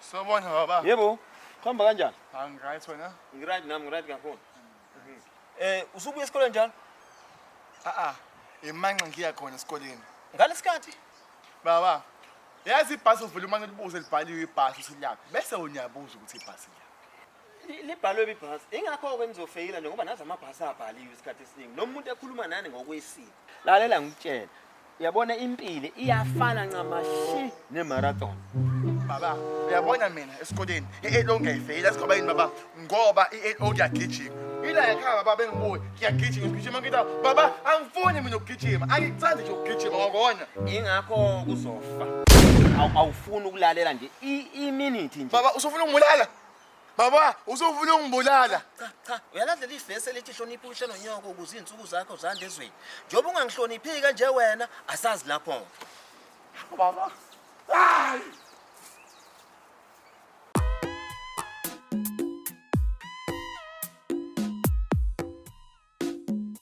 Sawubona baba. Yebo. Khamba kanjani? Angiright wena? Ngiright nami ngiright kakhulu. Eh usubuya esikoleni njalo? Ah ah. Imanxa ngiya khona esikoleni. Ngalesikhathi baba yazi ibhasi uvula umane libuze libhaliwe ibhasi usilaphi bese uyabuza ukuthi ibhasi liyaphi libhalwe ibhasi ingakho-ke nizofeyila nje ngoba nazi amabhasi abhaliwe isikhathi esiningi noma umuntu ekhuluma nani ngokwesiko lalela ngikutshela Uyabona impilo iyafana ncamashi ne-marathon. Baba, uyabona mina esikoleni i-LO ngiyayifeyila sigaba yini baba ngoba i-LO ngiyagijima. Ila yakhaya baba bengibuye ngiyagijima ngigijima ngita baba angifuni mina ukugijima angikuthandi nje ukugijima ngakona. Ingakho kuzofa. Awu- Awufuni ukulalela nje i- iminithi nje. Baba usufuna ukungibulala? Baba, usufuna ungibulala. Cha cha, uyalandela ivesi elithi hlonipha uhle nonyoko ukuze izinsuku zakho zande ezweni. Njengoba ungangihloniphi kanje wena, asazi lapho. Baba. Hayi!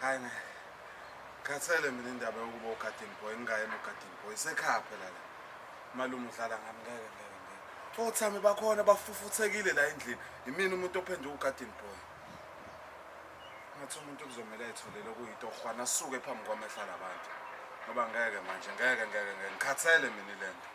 hayi ne khathele mina indaba yokuba ugadini boy ngingayena ugadini boy sekhaya phela la malume udlala ngami ngeke ngeke ngeke othami bakhona bafufuthekile la endlini yimina umuntu ophenduka ugadini boy ngathi umuntu kuzomele ayitholele okuyinto ohwana asuke phambi kwamehla labantu ngoba ngeke manje ngeke ngeke ngeke ngikhathele mina le nto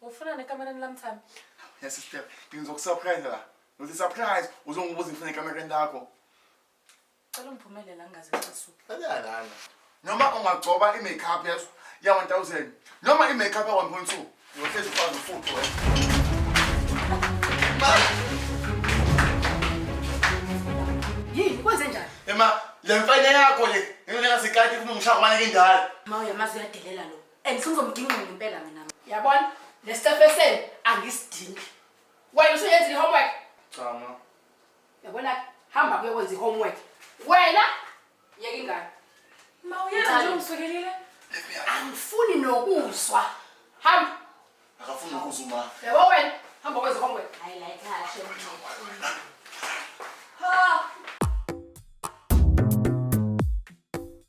Ufuna nekamereni lami Thami? Ya sister, ngizokusurprise la. Ngithi surprise, uzongibuza ngifuna ekamereni lakho. Cela ungiphumele la ngingaze ngisuke. Ayalana. Noma ungagcoba i-makeup yeso ya 1000 noma i-makeup ya 1.2 uyohlezi ufaka ufuthu wena. Yini kwenze njani? Ema, le mfana yakho le, ngeke ngasikati kuma ngishaya kwamanike indala. Ma uyamazi uyadelela lo. and sengizomgingqela impela mina yabona nesitefeseni angisidingi wena usuyenza i-homework cha ma yabona hamba kuyokwenza i-homework wena yeka ingane ma uyenza Ngicela. njengosukelile angifuni nokuzwa hamba akafuni ukuza uma yabo wena hamba kwenza i-homework hayi la ekhaya shem ha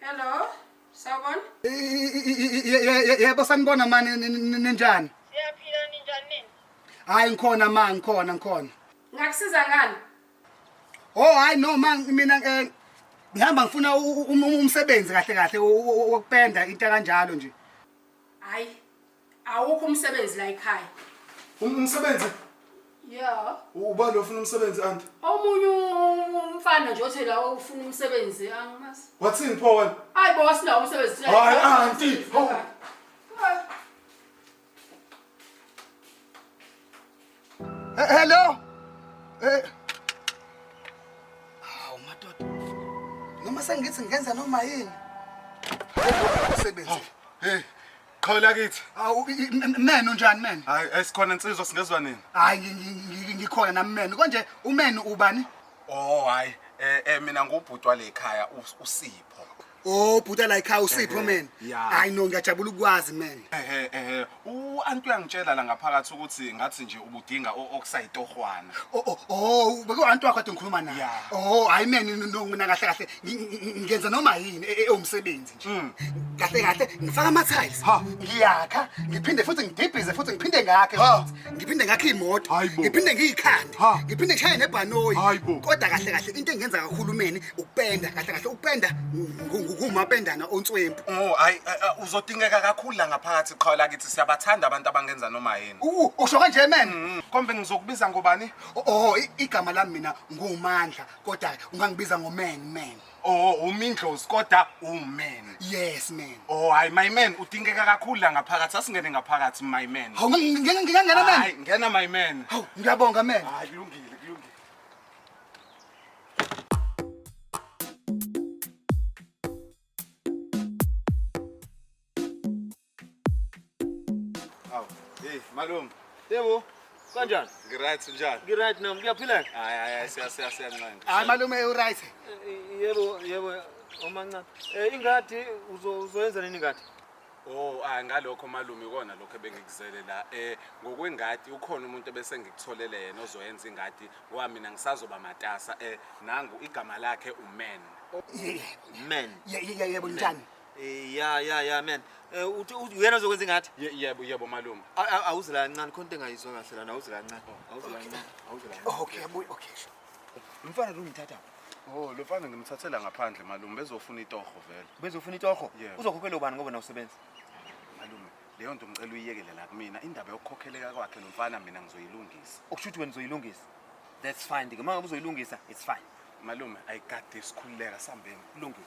Hello. Sawubona. Yebo sanibona mani ninjani? Siyaphila ninjani nini? Hayi ngikhona ma ngikhona ngikhona. Ngakusiza ngani? Oh hayi no ma mina eh ngihamba ngifuna umsebenzi kahle kahle wokupenda into kanjalo nje. Hayi Awukho umsebenzi la ekhaya. Um- Umsebenzi Yeah. ubani ofuna umsebenzi anti? Omunye umfana nje othe la ufuna umsebenzi angimazi. Wathini pho wena? Hayi bo wasinawo umsebenzi thina. Hayi, auntie, hawu. Hayi. Eh, hello. Eh. Hawu madoda. Noma sengithi ngenza noma yini. Usebenzi. Hey. Qhola kithi. Awu men unjani men? Hayi esikhona insizwa singezwa nini? Hayi ngikhona nami men. Konje umen ubani? Oh hayi eh, eh mina ngubhutwa lekhaya usipho. Oh bhuta like how usipho man. yeah. Hayi no ngiyajabula ukwazi man. ehe ehe u-anti uyangitshela la ngaphakathi ukuthi ngathi nje ubudinga okusayitohwana Oh oh oh beke antu wakho atongikhuluma naye. Yeah. Oh hayi man no, no mina kahle kahle ngi- ngi- ngenza noma yini e- e- ewumsebenzi nje. Mm. Kahle kahle ngifaka ama tiles. Ha. Ngiyakha ngiphinde futhi ngidibhize futhi ngiphinde ngakhe. Ha. futhi. ngiphinde ngakhe imoto ngiphinde ngiyikhande ngiphinde ngishaye nebhanoyi kodwa kahle kahle into engenza kakhulumeni ukupenda kahle kahle ukupenda ngumapendana onswempu oh hayi eh, eh, uzodingeka kakhulu la ngaphakathi qhawe lakithi siyabathanda abantu abangenza noma yini usho kanje man mm-hmm. kombe ngizokubiza ngobani oh, oh igama lami mina ngumandla kodwa ungangibiza ngoman man Oh, umindlozi kodwa uman. Yes man. Oh, hayi my man udingeka kakhulu la ngaphakathi. Asingene ngaphakathi my man. Hawu ngingena ngingangena man. Hayi, ngena my man. Hawu ngiyabonga man. Hayi kulungile. Aw, hey malume. Yebo. Kanjani? Ngiright njani? Ngiright nami kuyaphileka. Hayi hayi siya siya siyancenga. Hayi malume u right. Yebo yebo omancane. Eh ingadi uzoyenza nini ingadi? Oh, ah ngalokho malume ikona lokho ebengikuzele la. Eh ngokwengadi ukhona umuntu ebese ngikutholele yena ozoyenza ingadi ngoba mina ngisazoba matasa. Eh nangu igama lakhe uMen. Men. Yebo njani? Eh ya ya ya man. Eh uthi uthi uyena ozokwenza ingathi. Ye- Yebo, yebo malume. A- a- Awuze la kancane khona into engayizwa kahle lana awuze la kancane. Awuze la kancane. Awuze la kancane. Okay, abuye. Okay. sure. Umfana lo ngithatha. Oh, lo mfana ngimthathela ngaphandle malume bezofuna itoho vele. Bezofuna itoho. Yebo. Uzokhokhela ubani ngoba nawusebenza. Malume, leyo nto ngicela uyiyekele la kumina. Indaba yokukhokheleka kwakhe lo mfana mina ngizoyilungisa. Okusho ukuthi wena uzoyilungisa. That's fine. Ngeke manje uzoyilungisa. It's fine. Malume, ayikade isikhululeka sambeni. Kulungile.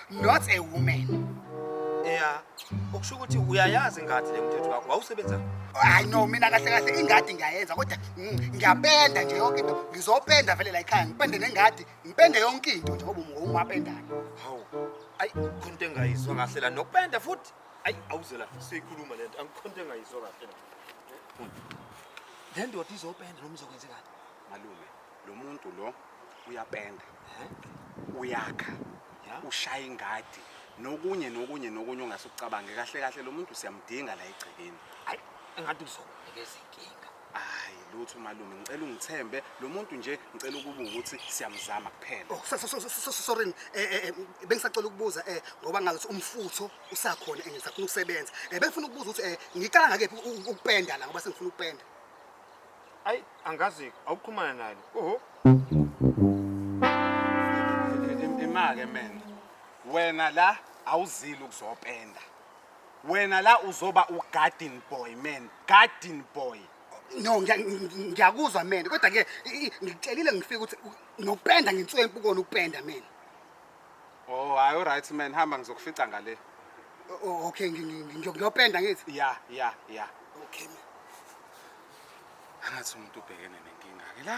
not a woman ya ukusho ukuthi uyayazi ingadi le mthetho wakho wawusebenza hayi no mina kahle kahle ingadi ngiyayenza kodwa mm, ngiyapenda nje yonke into ngizopenda vele la ekhaya ngipende nengadi ngipende yonke into nje ngoba ungumapendayo hawu ayi khonto engayizwa kahle la nokupenda futhi ayi awuze la siyikhuluma le nto angikhonto engayizwa kahle la le ndoda izopenda noma izokwenzekani malume lo muntu lo uyapenda uyakha ushaya ingadi nokunye nokunye nokunye ongase ucabange kahle kahle lo muntu siyamdinga la egcekeni hayi engathi uzokunikeza inkinga hayi lutho malume ngicela ungithembe lo muntu nje ngicela ukuba ukuthi siyamzama kuphela oh, sorry eh, eh, eh, bengisacela ukubuza um ngoba ngathi umfutho usakhona engisafuna ukusebenza um bengifuna ukubuza ukuthi um ngicala ngakephi ukupenda la ngoba sengifuna ukupenda ayi angazi awuqhumana nalo oho imake mena wena la awuzile ukuzopenda wena la uzoba ugarden boy man garden boy no ngiyakuzwa mena kodwa ke ngikutshelile ngifika ukuthi nokupenda ngensuku empukona ukupenda mena Oh hayi uright man hamba ngizokufica ngale. O- o- okay ngi- ngi- ngi- ngiyopenda ngithi Ya ya ya. okay man Angathi umuntu ubhekene nenkinga ke la.